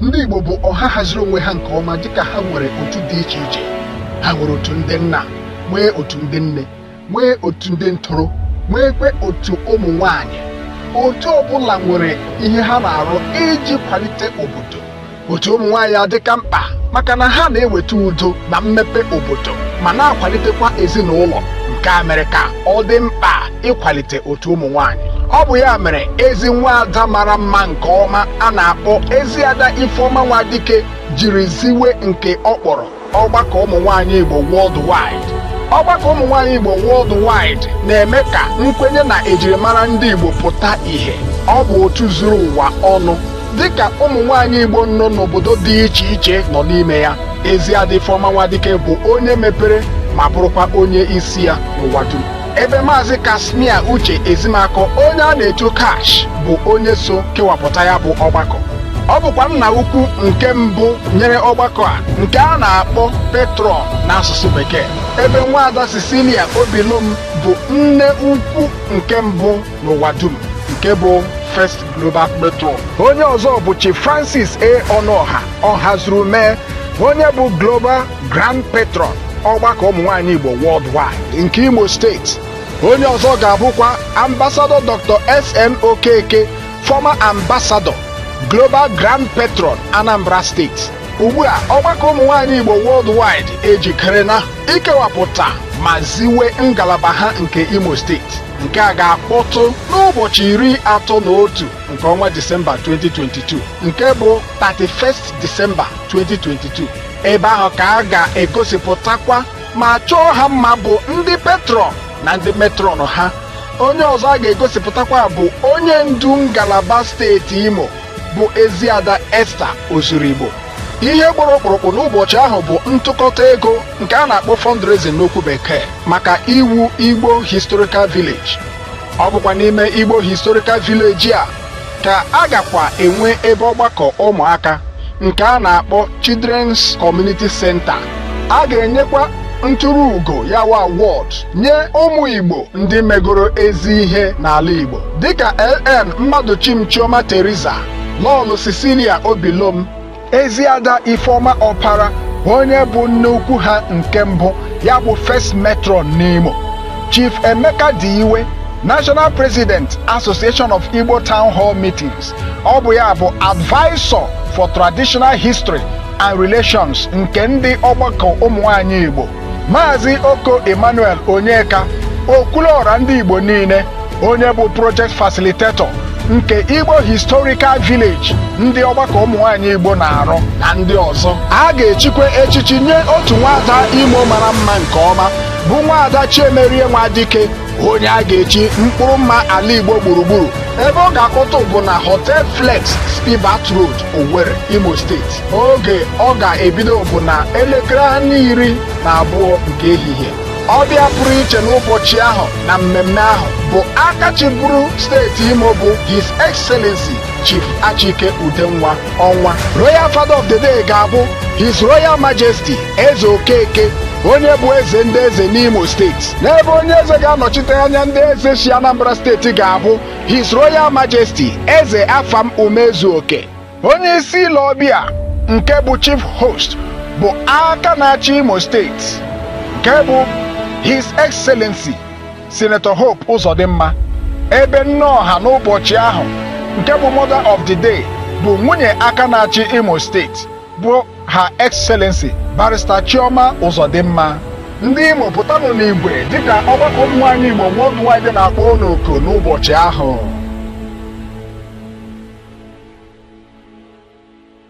Ndị Igbo bụ ọha haziri onwe ha nke ọma dịka ha nwere otu dị iche iche ha nwere otu ndị nna nwee otu ndị nne nwee otu ndị ntoro nweekwe otu ụmụ nwanyị otu ọbụla nwere ihe ha na-arụ iji kwalite obodo otu ụmụ nwaanyị adịka mkpa maka na ha na-eweta udo na mmepe obodo ma na-akwalitekwa ezinụlọ nke a mere ka ọ dị mkpa ịkwalite otu ụmụ nwanyị ọ bụ ya mere ezi nwaada mara mma nke ọma a na-akpọ eziada ifeọma nwadike jiri ziwe nke ọ kpọrọ ọgbakọ ụmụ nwanyị igbo worldwide ọgbakọ ụmụ nwanyị igbo worldwide na-eme ka nkwenye na ejirimara ndị igbo pụta ìhè ọ bụ otu zuru ụwa ọnụ dịka ụmụ nwanyị igbo nọ n'obodo dị iche iche nọ n'ime ya eziada ifeọma nwadike bụ onye mepere ma bụrụkwa onye isi ya n'ụwa dum ebe maazị Casmir Uche Ezimakọ onye a na-etu Cash bụ onye so kewapụta ya bụ ọgbakọ ọ bụkwa nna ukwu nke mbụ nyere ọgbakọ a nke a na-akpọ patron n'asụsụ bekee ebe nwaada Cecilia Obilom bụ nne ukwu nke mbụ n'ụwa dum nke bụ First Global Patron onye ọzọ bụ Chief Francis A. Ọnụọha Ọhazurumee onye bụ Global Grand Patron ọgbakọ ụmụnwaanyị Igbo worldwide nke Imo steeti onye ọzọ ga-abụkwa Ambassador Dr. SN Okeke former ambassador Global Grand Patron Anambra steeti ugbu a ọgbakọ ụmụnwaanyị Igbo worldwide ejikerena ikewapụta ma ziwe ngalaba ha nke Imo steeti nke a ga-akpọtụ n'ụbọchị iri atọ na otu nke ọnwa Disemba 2022 nke bụ 31st Disemba 2022 ebe ahụ ka a ga-egosipụtakwa ma chọọ ha mma bụ ndị patron na ndị matron ha onye ọzọ a ga-egosipụtakwa bụ onye ndu ngalaba steeti imo bụ eziada esther ozurigbo ihe gbara ọkpụrụkpụ n'ụbọchị ahụ bụ ntụkọta ego nke a na-akpọ fundraising n'okwu bekee maka iwu igbo historical village ọ bụkwa n'ime igbo historical village a ka a gakwa enwe ebe ọgbakọ ụmụaka nke a na-akpọ Children's Community Center a ga-enyekwa nturu ugo ya wụ award nye ụmụ Igbo ndị megoro ezi ihe n'ala Igbo dịka LN Mmadụchim Chioma Teresa Lọọlọ Cecilia Obilom Eziada Ifeoma Ọpara onye bụ nne ukwu ha nke mbụ ya bụ first matron n'Imo Chief Emeka Diwe National President Association of Igbo Town Hall Meetings ọ bụ ya bụ advisor for traditional history and relations nke ndị ọgbakọ ụmụ nwanyị Igbo Maazị Oko Emmanuel Onyeka okwuluọra ndị Igbo niile onye bụ project facilitator nke Igbo Historical Village ndị ọgbakọ ụmụnwaanyị Igbo na-arụ na ndị ọzọ a ga-echikwa echichi nye otu nwaada Imo mara mma nke ọma bụ nwaada Chiemerie Nwadike onye a ga-echi mkpụrụ mma ala igbo gburugburu ebe ọ ga-akpọtụ bụ na hotel flex spibat road owere imo steeti oge ọ ga-ebido bụ na elekere anya iri na abụọ nke ehihie ọbịa pụrụ iche n'ụbọchị ahụ na mmemme ahụ bụ aka chịburu steeti imo bụ his excellency chief achike udenwa ọnwa royal father of the day ga-abụ his royal majesty eze okeke onye bụ eze ndị eze n'imo steeti n'ebe onye eze ga-anọchite anya ndị eze si anambra steeti ga-abụ his royal majesty eze afam umezeoke onye isi ile ọbịa nke bụ chief host bụ aka na-achị imo steeti nke bụ his excellency Sinetọ Hope Uzodimma ebe nne ọha n'ụbọchị ahụ nke bụ mother of the day bụ nwunye aka na-achị Imo steeti bụ Her Excellency Barrister Chioma Uzodimma ndị Imo pụtanụ n'igwe dịka ọgbakọ ụmụ nwaanyị Igbo worldwide na-akpọ unu oku n'ụbọchị ahụ